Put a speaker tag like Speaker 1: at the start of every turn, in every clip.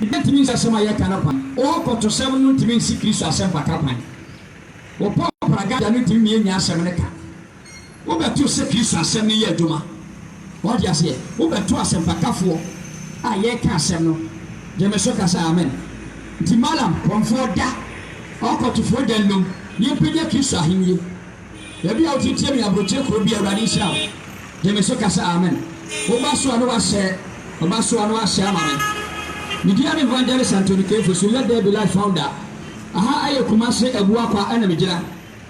Speaker 1: Ebi ntumi nsi asɛm a yɛka no kwan. Ɔɔkɔtosɛm no ntumi nsi Kristo asɛmpaka kwan. Wɔpɔ paragada no ntumi mmiennyia asɛm no ka. Wobɛto sɛ Kristo asɛm no yɛ adwuma. Wɔte aseɛ? Wobɛto asɛmpakafoɔ a yɛreka asɛm no. Gyeme so ka sɛ amen. Nti Malam, kɔmfoɔ da, ɔɔkɔtofoɔ da nnum, na yɛmpagya Kristo ahennie. Baabi a wote tie me aburokyire kuro bi awurade nhyira wo gye me so kasa amen woba so a no wahyɛ ɔba so a no wahyɛ ama me me dia ne evangelist Anthony Kefo so let there be life founder aha ɛyɛ Kumasi abua kwa ɛna me gyina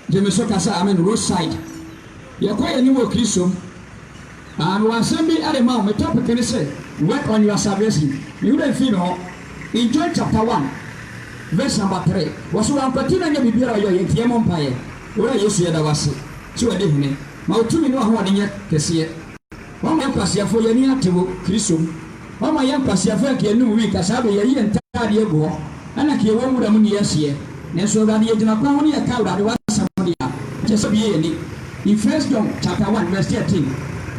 Speaker 1: gye me so kasa amen roadside yɛkɔ yɛn anim wɔ Kristo mu. Ano asɛm bi de ma wo. Me topic ne sɛ Work on your salvation. Me werɛ mfii ne hɔ. In John chapter one verse number three, wɔse wankwati na nyɛ biribiara a ɔyɛ ɔyɛ nti yɛmmɔ mpaeɛ. Owura Yesu yɛda wo ase sɛ wadi hene. Ma wo tumi ne w'ahoɔden nyɛ kɛseɛ. Woama yɛn nkwaseafoɔ yɛn ani ate wo Kristo mu. Ɔma yɛn nkwaseafo a nka yɛn anom wui ka saa bere yɛyi yɛn ntade agu hɔ na anka yɛwɔ nwura mu ne yɛn hyeɛ. Nanso Awurade yɛ gyina kwan ho ne yɛka Awurade w'asɛm de a, ɛkyɛ sɛ obue yɛn ani. In First John chapter one verse thirteen,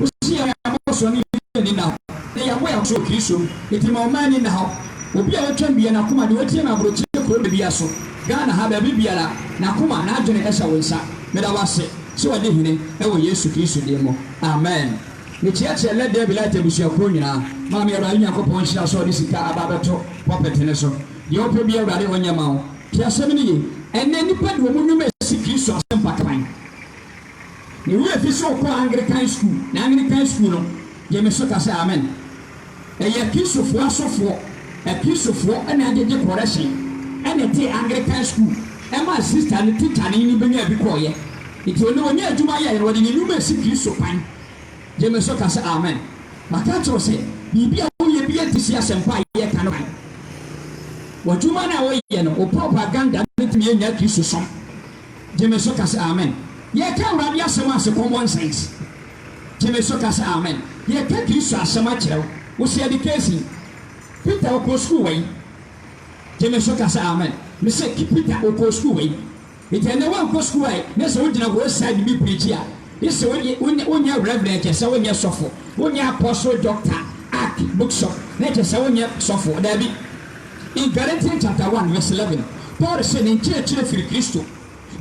Speaker 1: wose yɛn abɔsoɔ no yɛ yɛn anidaho, na yɛabɔ yɛn abɔsoɔ wɔ Kristo mu. Enti ma ɔmma ani nna hɔ. Obi a watwam bue n'akoma de watie me aborokyire kuro bebia so, Ghana ha, baabi biara, n'akoma, n'adwene hyɛ wo nsa. Meda wo ase sɛ wadi hene wɔ Yesu Kristo din mu. Amen. Mekyeakyea Let There Be Light abusuakuo nyinaa. Maame Awurade Nyankopɔn nhyira sɛ ɔde sika aba abɛto pulpit no so. Deɛ wopɛ biara Awurade ɔnyɛ ma wo. Tie asɛm no yie. Ɛnnɛ nnipa de wɔn nnwuma ɛsi Kristo asɛmpa kwan. Me werɛ fi sɛ wokɔɔ Anglikan sukuu, na Anglikan sukuu no gye me so ka sɛ amen. Ɛyɛ Akristofoɔ asɔfoɔ, Akristofoɔ na agyegye kɔrɛhyen na ɛtee Anglikan sukuu maa sista no tikyani no bɛnyaa bi kɔeɛ. Nti ɔno ɔnya adwuma yɛeɛ no ɔde ne nnwuma asi Kristo kwan. Gye me so ka sɛ amen. Maka akyerɛ wo sɛ biribi a woyɛ biara nte si asɛmpa a yɛreka no kwan. W'adwuma no a woyɛ no, wo propaganda no ntumi nnya Kristosom. Gye me so ka sɛ amen. Yɛreka Awurade asɛm a se common sense. Gyeme so ka sɛ amen. Yɛ ka Kristo asɛm akyerɛ wo. Wo se yɛde keesi Peter wokɔ sukuu wɔ yi? Gyeme so ka sɛ amen. Me se ki Peter wokɔ sukuu wɔ yi? Enti ɛnɛ woankɔ sukuu a ne se wogyina hɔ side bi preachi a ye se wonyɛ wonyɛ reverend kyɛ sɛ wonyɛ sɔfo wonyɛ apostle doctor ark bookshop na kyɛ sɛ wonyɛ sɔfo daabi in Galatian chapter one verse eleven Paul se ne nkyerɛkyerɛ firi Kristo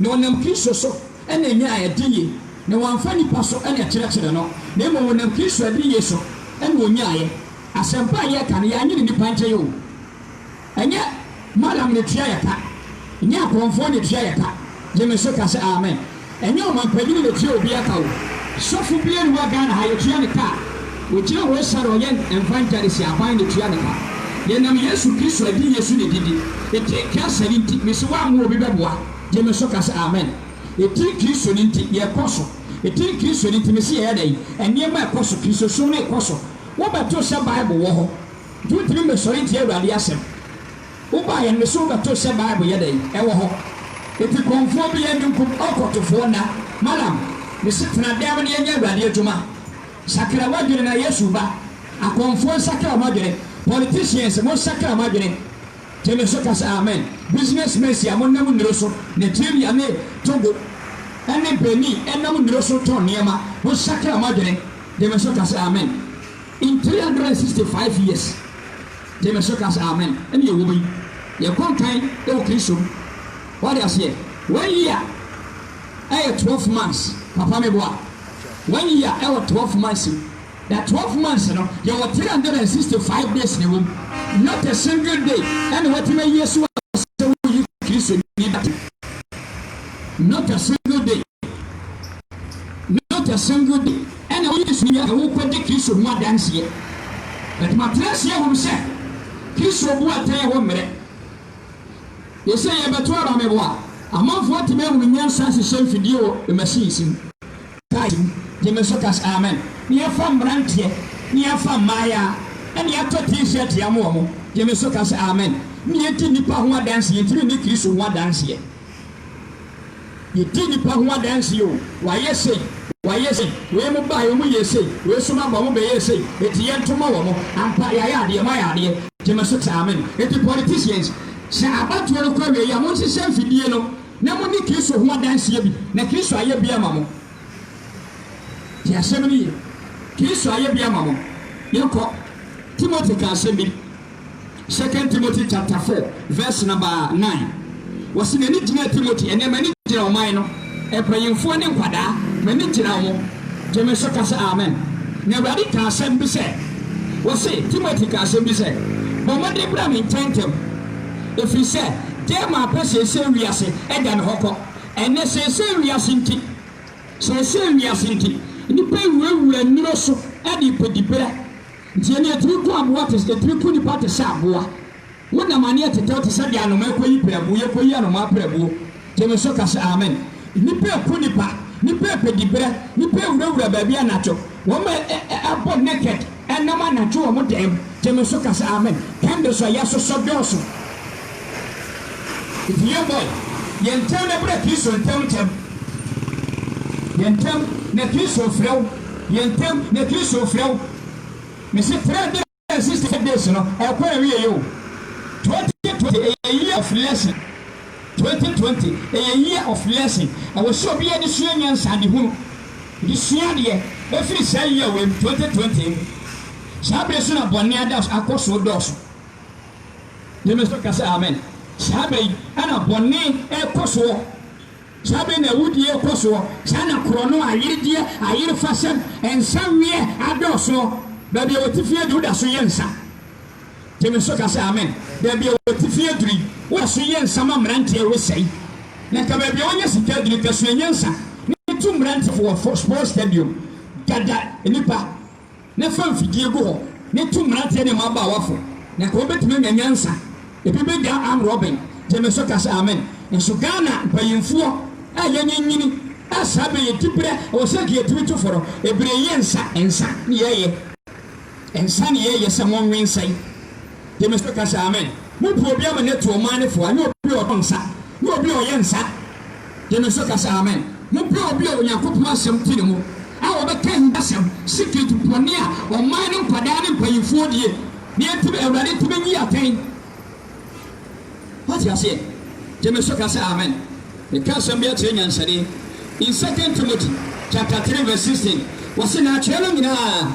Speaker 1: Na ɔnam Kristo so na ɔnyaa adiyie, na wamfa nnipa so na ɛkyerɛkyerɛɛ no, na mmom ɔnam Kristo adiyie so na ɔnyaaeɛ. Asɛmpa a yɛreka no, yɛannwene nnipa nkyɛn o. Ɛnyɛ Mallam na ɛtua yɛn ka, ɛnyɛ akorɔmfoɔ na ɛtua yɛn ka, gye me so ka sɛ amen, ɛnyɛ ɔmampanin na ɛtua obiara ka o, sɔfo biara nni hɔ a Ghana ha yɛtua no ka a. Ogyina hɔ sar a ɔyɛ mfa ngya no si aban na tua no ka. Yɛnam Yesu Kristo adiyɛ so na edidi. Etsin Christ no ntsi, mese wɔammɔ obi bɛboa, gye me so ka sɛ amen. Etsin Kristo no ntsi, yɛkɔ so. Etsin Kristo no ntsi, mese yɛyɛ dɛn? Nneɛma ɛkɔ so, Kristosom no rekɔ so. Wobɛtoo sɛ Bible wɔ hɔ, nti wontumi mmɛsɔre ntie Awurade asɛm. Wobaeɛ no, mese wobɛtoo sɛ Bible yɛ dɛn? Ɛwɔ hɔ. Enti kɔmfoɔ biara nni nkum ɔkɔtofoɔ nna. Madam, mese tena dɛm na yɛnyɛ Awurade adwuma. Sakra w'adwene na Yesu ba. Akɔmfoɔ nsakra mo adwene, politicians mo nsakra mo adwene, gyeme so ka sɛ amen, business mens a mo nam nnuro so, Nigeria ne Togo ne Benin ɛnam nnuro so tɔn nneɛma, mo nsakra mo adwene, gyeme so ka sɛ amen, in 365 years, gyeme so ka sɛ amen, ɛne yɛ wɔ mu yi, yɛ kɔ nkan wɔ Kristo mu, wate aseɛ, one year. ɛyɛ twelve months papa me boa one year ɛwɔ twelve months mu na twelve months no yɛwɔ three hundred and sixty five days na ɛwɔ mu not a single day ɛna watumi ayi ɛso asɛ wo yi kristo ni dati not a single day not a single day ɛna wo yi kristo ni ɛwɔ kɔ di kristo ho adanseɛ ɛtuma tena seɛ wɔm sɛ kristo bu atɛn ɛwɔ mmerɛ Yese yɛbɛto aba meboa amanfoɔ atumi ahunu nyansa ahyehyɛ mfidie wɔ machines mu, cars mu, gye me so kas amen, na yɛfa mmeranteɛ, na yɛfa mmaayaa, ɛna yɛatɔ T-shirt yɛama wɔn, gye me so kas amen, na yɛdi nnipa ho adanseɛ, yɛntumi nni Kristo ho adanseɛ. Yɛdi nnipa ho adanseɛ o, wɔayɛ sei, wɔayɛ sei, wei mo baeɛ wɔn yɛɛ sei, wei nso mo aba wɔn bɛyɛɛ sei, enti yɛn nto ma wɔn, ampa yɛayɛ adeɛ, moayɛ adeɛ, gyeme so te amen. Enti politicians, sɛ abatoɔ no kɔ awieɛ a, monhyehyɛ mfidie no na moni Kristo ho adanseɛ bi, na Kristo ayɛ bi ama mo. Tie asɛm no yie, Kristo ayɛ bi ama mo. Yɛnkɔ, Timothy ka asɛm bi. Second Timothy chapter four verse number nine, Wɔse m'ani gyinaa Timothy, ɛnnɛ m'ani gyina ɔman no, mpanyimfoɔ ne nkwadaa, m'ani gyina wɔn. Gye me so ka sɛ amen. Na Awurade kaa asɛm bi sɛ, Wɔse Timothy kaa asɛm bi sɛ, Bɔ mmɔden bra me nkyɛn ntɛm, ɛfiri sɛ Dema apɛ seesei wiase agya me hɔ kɔ. Ɛnnɛ seesei wiase nti, seesei wiase nti, nnipa awurawura nnuro so de repɛ diberɛ. Tie no, etumi ku aboa te, etumi ku nipa te sɛ aboa. Wo nam aneɛ tetɛw te sɛ deɛ anomaa ɛkɔyi prɛbuo, yɛkɔyi anomaa prɛbuo. Gye me so ka sɛ amen. Nnipa ɛku nipa, nnipa ɛpɛ diberɛ, nnipa ɛwurawura baabi anadwo, wɔn ɛ ɛ ɛ abɔ naked ɛnam anadwo wɔn dan mu. Gye me so ka sɛ amen. Candles a yɛasosɔ dɔɔso. Enti yɛn bɔ yɛ, yɛ ntɛm na brɛ Kristo ntɛm ntɛm, yɛ ntɛm na Kristo refrɛ wo, yɛ ntɛm na Kristo refrɛ wo. Mese 365 days no ɛkɔ awieɛ o, 2020 ɛyɛ year of lesson, 2020 ɛyɛ year of lesson, ɛwɔ sɛ obiara de sua nyansa, de hunu, de sua adeɛ ɛfiri saa year wei mu, 2020 mu. Saa bere so na bɔne ada akɔ so redɔɔso. Gyeme so ka sɛ amen. Saa bɛ yi na bɔne rekɔ soɔ, saa bɛ yi na awudie rekɔ soɔ, saa na korɔno, ayeredeɛ, ayerefasɛm, nsaweɛ adɔɔ soɔ. Baabi a wɔte fie aduru woda so yɛ nsa. Gyeme so ka sɛ amen. Baabi a wɔte fie aduru yi, woda so yɛ nsa ma mmeranteɛ resɛe. Na nka baabi a wɔnya sika aduru, nka suanyansa ne tu mmeranteɛ wɔ sports stadium, dada nnipa. na fa mfidie gu hɔ na tu mmeranteɛ ne mmabaawafo, na nka wobɛtumi anya nyansa, ebi bɛgyaa arm robbing, gye me so ka sɛ amen. Nanso Ghana mpanyinfoɔ a yɛanyinyini a saa bɛ yɛ diberɛ, ɛwɔ sɛ nka yɛtumi tu fo no, ɛbire yɛ nsa, nsa ne yɛyɛ, nsa ne yɛyɛ sɛ monwe nsa yi, gye me so ka sɛ amen, mobu obi ama no atu ɔman no fo a, nyɛ obi a ɔtɔ nsa, nyɛ obi a ɔyɛ nsa. Gye me so ka sɛ amen. Mopɛ obi a Onyankopɔn asɛm te ne mu a ɔbɛka ahintasɛm, secret, bɔne a ɔman no nkwadaa ne mpaninfoɔ die na yɛtumi, Awurade ntumi nyi atɛn. Woate aseɛ? Gye me so ka sɛ amen. Meka asɛm bi akyerɛ nyansani. In Second Timothy chapter three verse sixteen, wɔse na atwerɛ no nyinaa.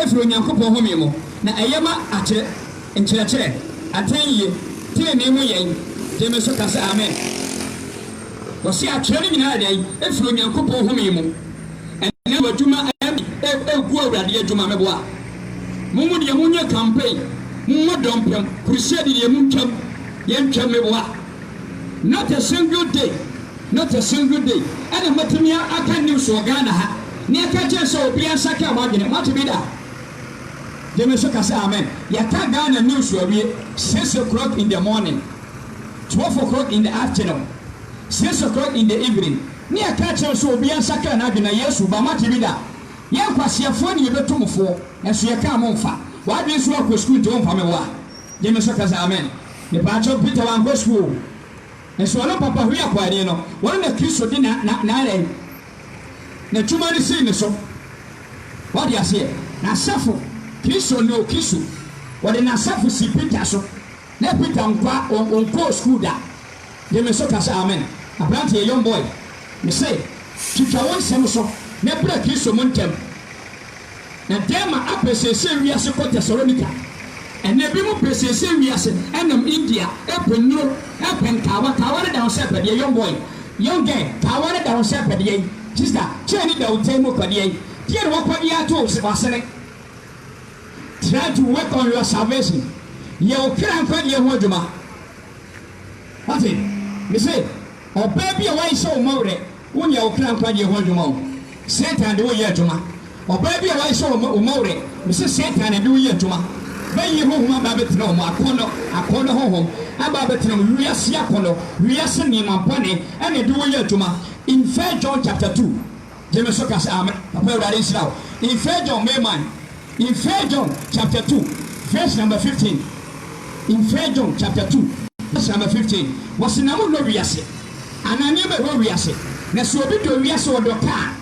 Speaker 1: firi Onyankopɔn home mu, na ɛyɛ ma akyɛ, nkyerɛkyerɛ, atɛnyie, tenenee mu yɛn, gye me so ka sɛ amen. Wɔse atwerɛ no nyinaa yɛ dɛn? Ɛfiri Onyankopɔn home mu. Ɛnɛ wɔ adwuma ɛme ɛgu Awurade adwuma meboa mo mo deɛ monyɛ campaign, mommɔ dɔmpem, crusade deɛ montwam, yɛntwam meboa. Not a single day, not a single day ɛna matumi aka news wɔ Ghana ha ne aka kyerɛ sɛ obiara nsa kaa w'adwene. Moate bi da? Gye me so ka sɛ amen. Yɛaka Ghana news awie six o'clock in the morning, twelve o'clock in the afternoon, six o'clock in the evening ne yɛaka akyerɛ wo sɛ obiara nsa kaa n'adwene na Yesu ba. Moate bi da? Yɛn nkwaseafoɔ ne yɛbɛtu mo foɔ nanso yɛkaa mo mfa w'adwene sɛ woakɔ sukuu nti womfa me wo a. Gyeme so kasa amen. Mepaakyɛw Peter wankɔ sukuu o nso ɔno papa hwii akɔ ani no wɔn na kristo de na na na dɛn na twuma no sii ne so wade aseɛ nasafo kristo no kristo wɔde nasafo sii Peter so na Peter nkwa on onkɔɔ sukuu da gyeme so kasa amen abranteɛ young boy mese twitwa wo nsɛm so na bra kristo mu ntɛm. Na Dema apɛ seesei wiase kɔ Thessalonica. Ɛnnɛ ebinom pɛ seesei wiase nam India, ɛpɛ nnuro, ɛpɛ nkawa, kawa no da ho sɛ ɛpɛ deɛ, young boy, young girl, kawa no da ho sɛ ɛpɛ deɛ, sister, chain no da wo tiri mu ɛpɛ deɛ, deɛ na wakɔ de ato w'asene. Try to work on your salvation, yɛ wo kra nkwagyeɛ ho adwuma. Wate? Mese, ɔbaa bi a w'ayesɛ wo mmɔwerɛ. Wonyɛ wo kra nkwagyeɛ ho adwuma o, Satan de wo reyɛ adwuma. Ɔbaa bi a wahyɛ wo ma wo ma werɛ, mese Satan na ɛde wo reyɛ adwuma. Bɛyii honhom aba abɛtena wo mu, akɔnnɔ, akɔnnɔ honhom aba abɛtena wo mu, wiase akɔnnɔ, wiase nneɛma bɔne ɛna ɛde wo reyɛ adwuma. In First John chapter two, gye me so ka sɛ amen, papa Awurade nhyira wo, in First John, May month, In First John chapter two verse number fifteen In First John chapter two verse number fifteen Wɔsi na mo nnɔ wiase anaa nneɛma ɛwɔ wiase. Na sɛ obi dɔ wiase ɔdɔ ka a,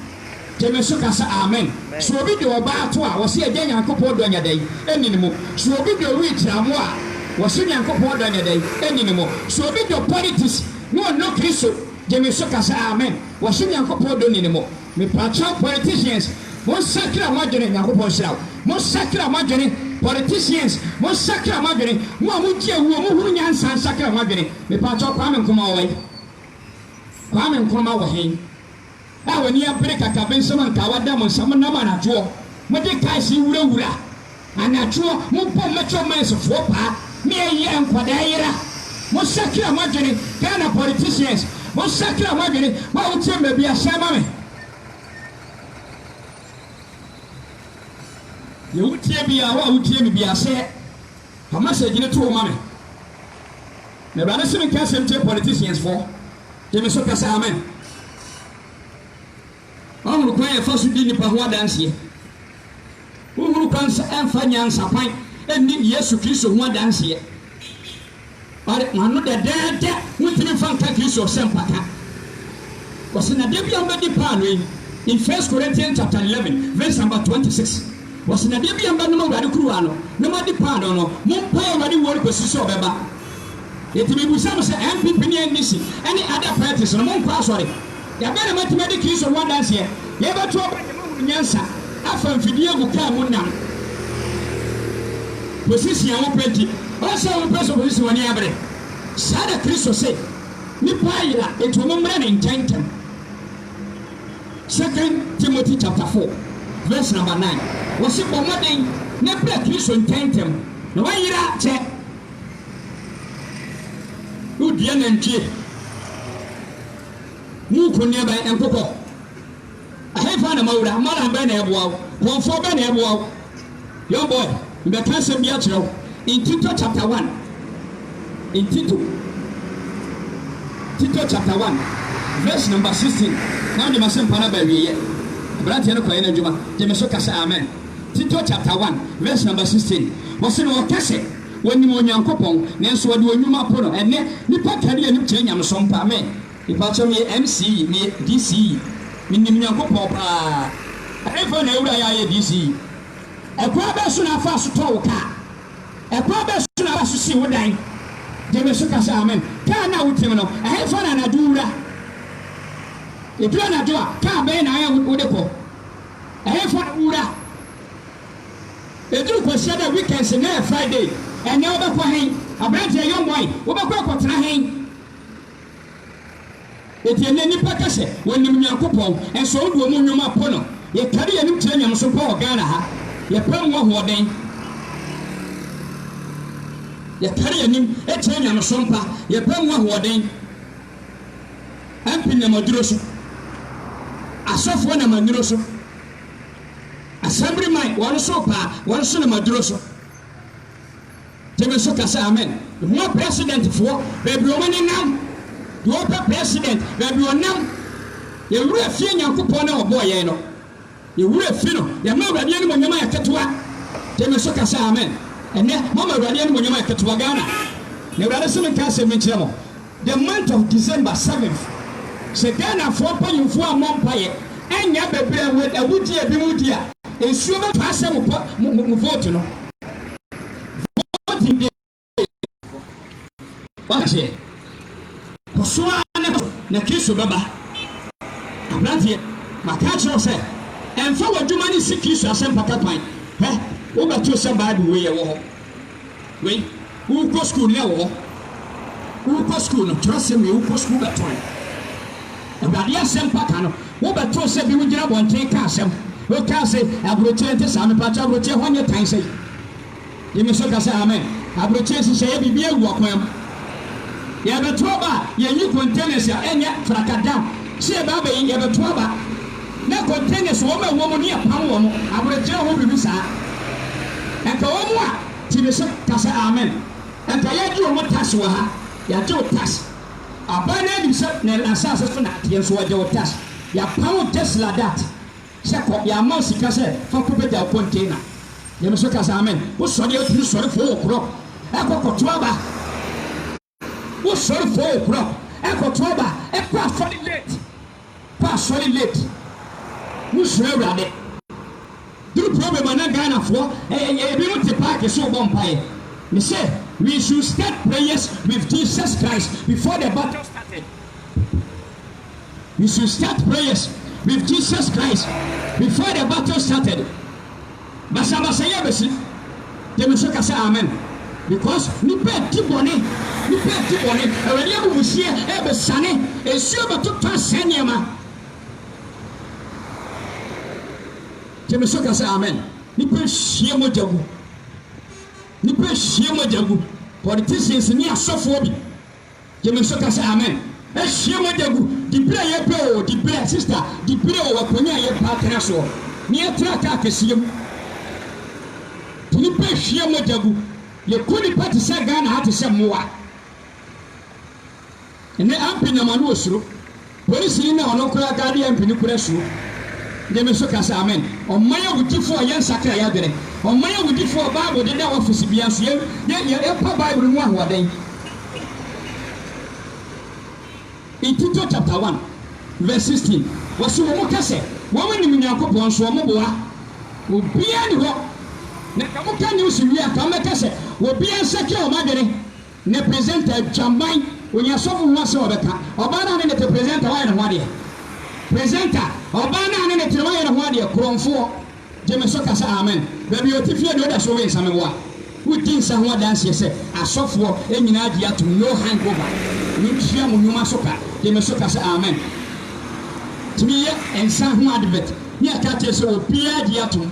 Speaker 1: gyeme nso ka sɛ amen. Sɛ obi dɔ ɔbaa ato a, wɔsi Agya Nyankopɔn dɔ nya dɛn? Ɛnni ne mu. Sɛ obi dɔ wheat amoa a, wɔsi Nyankopɔn dɔ nya dɛn? Ɛnni ne mu. Sɛ obi dɔ politics na ɔnnɔ Kristo, gyeme nso ka sɛ amen. Wɔsi Nyankopɔn dɔ nni ne mu. Mepakyɛw politicians mo nsakra mo adwene Nyankopɔn nhyira wo mo nsakra mo adwene politicians mo nsakra mo adwene mo a mo gye awuo mo hunu nyansa nsakra mo adwene Mepakyɛw Kwame Nkrumah wɔ he? Kwame Nkrumah wɔ he? A wani abere kakabe nsɛm anka wada mo nsa mo nam anadwoɔ mo de cars yi wura wura Anadwoɔ mobɔ mɛkyɛ ɔmansifoɔ paa. Meyɛ nkwadaa yera mosakra moadwene Ghana politicians mosakra moadwene wo a wotie me baabi ahyɛ ma me. Deɛ wotie biaa wo a wotie me biaa hyɛ fa message no to hɔ ma me na awurade se menka asɛm nkyerɛ politicians foɔ gye me so kasa amen. Woahunu kwan a yɛfa so di nnipa ho adanseɛ? Wohunu kwan sɛ ɛmfa nyansa kwan nni Yesu Kristo ho adanseɛ? Ɔde w'ano dɛdɛɛdɛ wontumi mfa nka Kristo sɛ mpata. Ɔse na da bi a wobɛdi paano yi, in First Corinthians chapter 11 verse number 26, ɔse na da bi a mobɛnom Awurade kuruwa no na moadi paano no, mompae Awurade wuo no kɔsi sɛ ɔbɛba. Enti mebisa mo sɛ NPP ne NDC ne other parties no mo nkɔ asɔre? Dabɛn na moatumi adi Kristo ho adanseɛ? Yɛbɛto aba deɛ moahunu nyansa afa mfidie a mokar mu nam position a mopɛ nti. Ɔnsɛ wo mpɛ so position w'ani abere. Saa na Kristo se nipa ayera enti wɔn mmra ne nkyɛn ntɛm. Second Timothy chapter 4 verse number 9 wɔse bɔ mmɔden na bra Kristo nkyɛn ntɛm na wayera kyɛ. Wodua nantwie mu nkonneaba nkokɔ. Ɛhefa na mawura? Malam bɛn na ɛboa wo? Kɔnfoɔ bɛn na ɛboa wo? Young boy, mbɛka asɛm bi akyerɛ wo. In Tito chapter one, in Tito, Tito chapter one, verse number sixteen, na wode m'asɛmpa no aba awieeɛ. Aberanteɛ no kɔyɛ n'adwuma. Gye me so ka sɛ amen. Tito chapter one, verse number sixteen, wɔse na wɔka sɛ. Wɔnim Onyankopɔn, nanso wɔde wɔn nnwuma po no. Ɛnnɛ, nnipa kari anim kyerɛ nyamesom pa. Me, mepakyɛw, meyɛ MCE, meyɛ DCE. Minim Nyankopɔn paa. Ɛhefa na awura yɛ ayɛ DCE? Ɛkwan bɛn so na afaa so tɔɔ wo kaa? Ɛkwan bɛn so na afaa so sii wo dan? Gye me so ka sɛ amen. Kaa no a wotim no, ɛhefa na anadwo wura? Edu anadwo a, kaa bɛn na wode kɔ? Ɛhefa na wowura? Edu Nkwasiada, weekends, nnɛ yɛ Friday, ɛnnɛ wobɛkɔ hen? Aberanteɛ, young boy, wobɛkɔ akɔtena hen? Enti ɛnnɛ nnipa ka sɛ wɔnim Nyankopɔn, nso wode wɔn nnwuma po no. Yɛkari yɛn anim kyerɛ nyamesom pa wɔ Ghana ha. Yɛpɛ mu ahoɔden. Yɛkari yɛn anim kyerɛ nyamesom pa. Yɛpɛ mu ahoɔden. MP nam aduro so. Asɔfoɔ nam anuro so. Asɛm reman wɔn so paa wɔn so no maduro so gyeme so ka sɛ amen. Mmoa president foɔ baabi wɔn ani nam deɛ ɔpɛ president baabi ɔnam yɛn wura fie nyankopɔn na ɔbɔɔ yɛn no yɛn wura fi no yɛn ma awurade anim onyam ayɛ ketewa gyeme so ka sɛ amen ɛnɛ mama awurade anim onyam ayɛ ketewa Ghana na awurade sɛ menka asɛm bi nkyerɛ mo The month of December seventh Sɛ Ghanafoɔ mpanyinfoɔ ammɔ mpaeɛ annya bɛbrɛ a wɔn awudie bi mu di a, nsuo bɛtɔ asɛ mo pɔ mo mo vote no. Voting day kɔ. Wate aseɛ? Kɔ so ara na kɔ so na Kristo bɛba. Abranteɛ, maka akyerɛ wo sɛ ɛmfa w'adwuma no nsi Kristo asɛmpaka kwan. Hwɛ, wobɛtoo sɛ Bible wei ɛwɔ hɔ. Wei, worekɔ sukuu nnɛ wɔ hɔ. Worekɔ sukuu no, twerɛsɛm wei, wokɔ sukuu bɛtoe. Awurade asɛmpa ka no, wobɛtoo sɛ binom gyina abɔnten ka asɛm. Wokaa se, aburokyire nte saa, mepakyɛ aburokyire hɔ nyɛ tan sei? Gye me so ka sɛ amen. Aburokyire nhyehyɛeɛ biribi awu wɔ kwan mu. Yɛrebɛto aba a, yɛnyi containers a ɛnyɛ frakadam sɛ yɛbɛabɛyi, yɛbɛto aba. Na containers wɔn a ɛwɔ mu no yɛ pam wɔn awerɛkyerɛ ho biribi saa. Ɛka wɔn a ti ne so ka sɛ amen. Ɛka yɛgye wɔn tax wɔ ha, yɛagye wo tax. Aban no ara nim sɛ na asase so na ɛteɛ nso wɔgye wo tax. Yɛapam wo just like that sɛ kɔ, yɛamma wo sika sɛ fa kɔbɛgya wo container. Yɛ me so ka sɛ amen. Wosɔre a wotumi sɔre foro wɔ korɔ ɛkɔ kɔto aba. Wo sɔre fo o brɔ ɛkɔ to aba ɛkɔ asɔre late kɔ asɔre late wo nhyira awurade. Duru problem a na Ghana foɔ ebinom te park so bɔ mpaeɛ me sɛ we should start prayers with Jesus Christ before the battle started we should start prayers with Jesus Christ before the battle started. Basabasayɛ abesi Gye me so ka sɛ amen Because nnipa ɛdi bɔne Nnipa ɛdi bɔne Awurade abufuhyeɛ ɛbesiane Nsuo bɛtotɔ asɛe nneɛma Gye me so ka sɛ amen Nnipa ɛhwie mogya gu Nnipa ɛhwie mogya gu Politicians ne asɔfoɔ bi. Gye me so ka sɛ amen. Ahyia mu da gu, diberɛ a yɛpɛ oo, diberɛ, sista, diberɛ oo, akonnwa a yɛpɛ atena soɔ, na yɛtra kaa kɛseɛ mu. Nti nipa hyia mu da gu, yɛku nipa te sɛ Ghana ha te sɛ mmoa. Ɛnnɛ Ampe nam ano osuro. Polisini no a ɔno nkoraa daa ne yɛmmpene kura asuo de me nso ka sɛ, Amen! Ɔman awudifo a yɛnsakra yɛn adwene, ɔman awudifo a Bible deda wɔn afese biara so, yɛ yɛ yɛpɛ Bible no mu ahoɔden. In Tito chapter one verse sixteen, wɔse wɔn ka sɛ wɔn nim Nyankopɔn nso wɔn boa obiara nni hɔ, na nka mo ka news wie a nka mo bɛka sɛ obiara nsakra wɔn adwene. Ne presenter adwaman onya asɔfo ho asɛm a ɔbɛka ɔbaa no a ne ne te presenter wayɛ ne ho adeɛ presenter ɔbaa no a ne ne te no wayɛ ne ho adeɛ korɔnfoɔ gye me so ka sɛ amen baabi a ɔte fie deɛ woda so we nsa meboa wo di nsa ho adanseɛ sɛ asɔfoɔ nyinaa gye atom no hang over mentua mo nwuma so ka gye me so ka sɛ amen tumi yɛ nsa ho advert ne ɛka kyerɛ sɛ obiara gye atom.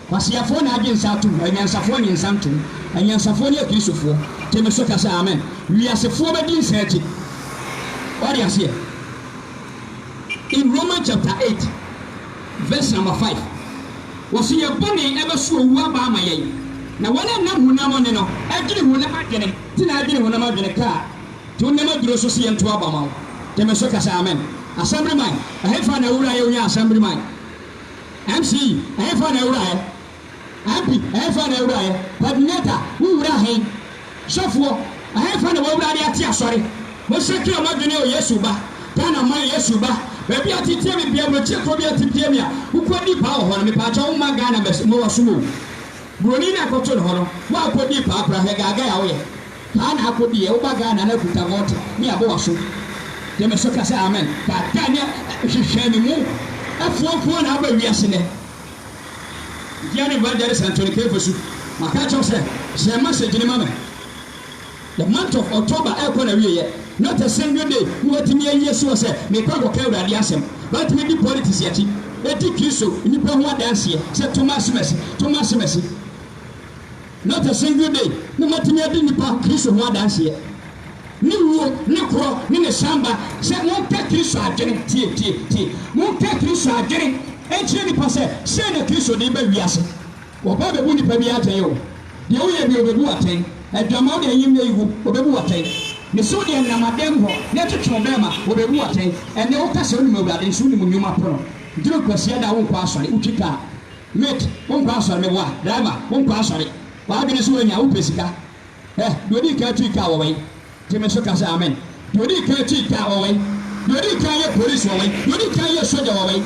Speaker 1: Kwaseafoɔ na agye nsa atom, anyansafoɔ nye nsa ntom. Anyansafoɔ ne Akristofoɔ. Gye me so ka sɛ amen. Wiasefoɔ bɛdi nsa akyi. W'ate aseɛ? In Roman chapter eight verse number five, wɔse yɛn bɔne ɛbɛso owu aba ama yɛn, na wɔn a ɛnam honam ɔne no adwene honam adwene nti na adwene honam adwene ka a, to nnam aduro so se yɛnto aba ma wo. Gye me so ka sɛ amen. Assemblyman, ɛhefa na awura yɛ onya Assemblyman? MC, Ɛhefa na awura ɛ? MP, Ɛhefa na awura ɛ? Coordinator, Wo wura he? Sɔfoɔ, Ɛhefa na w'awurade ate asɔre? Monsakra moadwene o Yesu Ba, Ghana man Yesu Ba, baabi a ɔte tie me bia, aburokyire kuro bi a ɔte tie me a, wokɔ di paa wɔ hɔ no, mepaakyɛw woma Ghana mɛs, mewɔ som o. Buroni na ɛkɔto ne hɔ no woakɔdii paa koraa hwɛ gaagae a woyɛ paa na akɔdiiɛ woba Ghana na akuta vote ne abo waso de me so ka sɛ amen gaagae ne hwehwɛ ne mu afuafuo na aba wiase nnɛ Dear Evangelist Anthony Kemfosu maka akyerɛ wo sɛ share message no ma me. The month of October rekɔ n'awieɛ. Not a single day ne watumi ayi asi hɔ sɛ mekɔ akɔka Awurade asɛm. Watumi di politics akyi adi Kristo nnipa ho adanseɛ sɛ to m'ase m'asi, to m'ase m'asi. Not a single day ne matumi adi nnipa Kristo ho adanseɛ. Ne wuo, ne korɔ, ne ne sanba sɛ monka Kristo adwene, tie, tie, tie, monka Kristo adwene nkyerɛ nnipa sɛ sei na Kristo de reba wiase. Wɔba bɛbu nipa biara atɛn o. Deɛ woyɛ deɛ ɔbɛbu wo atɛn. Adwaman deɛ nyim na iwu, ɔbɛbu wo atɛn. Mesew deɛ nenam adan mu hɔ na ɛtwetwe wo bɛɛma, ɔbɛbu wo atɛn. Ɛnnɛ woka sɛ wonim Awurade nso wonim nnwuma pono. Duru Kwasiada a wonkɔ asɔre, wotwi kaa. Mate, wonkɔ asɔre, meboa. Driver, wonkɔ asɔre. W'adwene nso woanya, wopɛ sika. Hwɛ, deɛ ɔdii kan tui kaa wɔ wɛn? Gye me so ka sɛ amen. Deɛ ɔdii kan tii taa wɔ wei. Deɛ ɔdii kan yɛ polisi wɔ wei. Deɛ ɔdii kan yɛ sogya wɔ wei.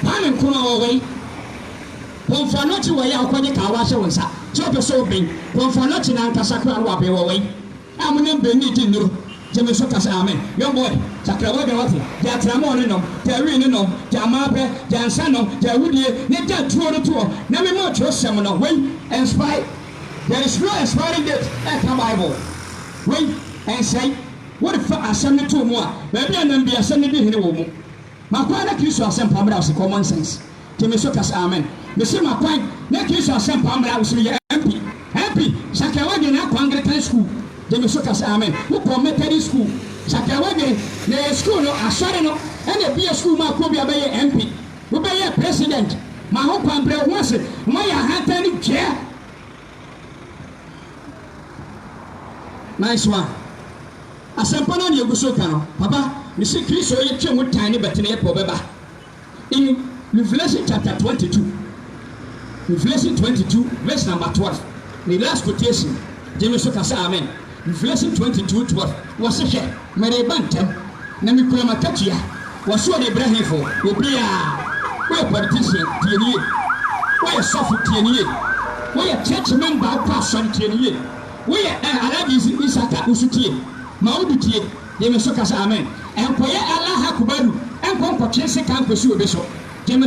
Speaker 1: Kwame Nkrumah wɔ wei. Kɔmfoɔ anɔkye wɔ yɛ a wokɔgye kaa wɔ ahyɛ wo nsa sɛ wopɛ sɛ woben. Kɔmfoɔ anɔkye no ankasa koraa no waben wɔ wei. A monam ben redi nnuro. Gye me so ka sɛ amen. Young boy, sakra w'adwen wate. Gya atirammɔɔ no nom. Gya awi no nom. Gya amaabrɛ. Gya nsa nom. Gya awudie. Na gya tuo no toɔ. Na mema wo twerɛsɛm no. Wei, nspy. There is no expiring date ɛka Bible. Wei ɛnsɛe. Wode fa asɛm no too mu a, baabi a ɛnam biara asɛm no di hene wɔ wo mu. Makwan na Kristo asɛmpa mmra wo so, common sense. Tie me so ka sɛ amen. Mese makwan na Kristo asɛmpa mmra wo so, meyɛ MP. MP, Sakawa deɛ na akɔ Anglican school, gye me so ka sɛ amen. Wokɔɔ Methodist school, Sakawa deɛ na ɛyɛ school no, asɔre no, ɛna ɛbue school maa kuo bi a bɛyɛɛ MP. Wo bɛ yɛ president ma ho kwan brɛ ho ase ma yɛ ahantan ne dwɛ nice one asɛmpa no a na yɛ gu so ka no papa me se kristo yɛ twɛ mu tan ne bɛtene yɛ pɛ ɔbɛ ba in revelation chapter 22 revelation 22 verse number 12 ne last quotation gye me so ka sɛ amen Revelation twenty two twelve, Wɔse, Hwɛ, mereba ntɛm, na mekura m'akatua. Wɔse, Ɔrebra hefo? Obiaa. Woyɛ politician? Tie no yie. Woyɛ sɔfo? Tie no yie. Woyɛ church member a wokɔ asɔre? Tie no yie. Woyɛ eh, Alhaji Isaka, wo so tie. Ma wo bi tie. Gye me so ka sɛ, Amen. Nkɔyɛ Allahu Akubaru, nkɔ nkɔtwe sekaa nkɔsi obi so. Gye me.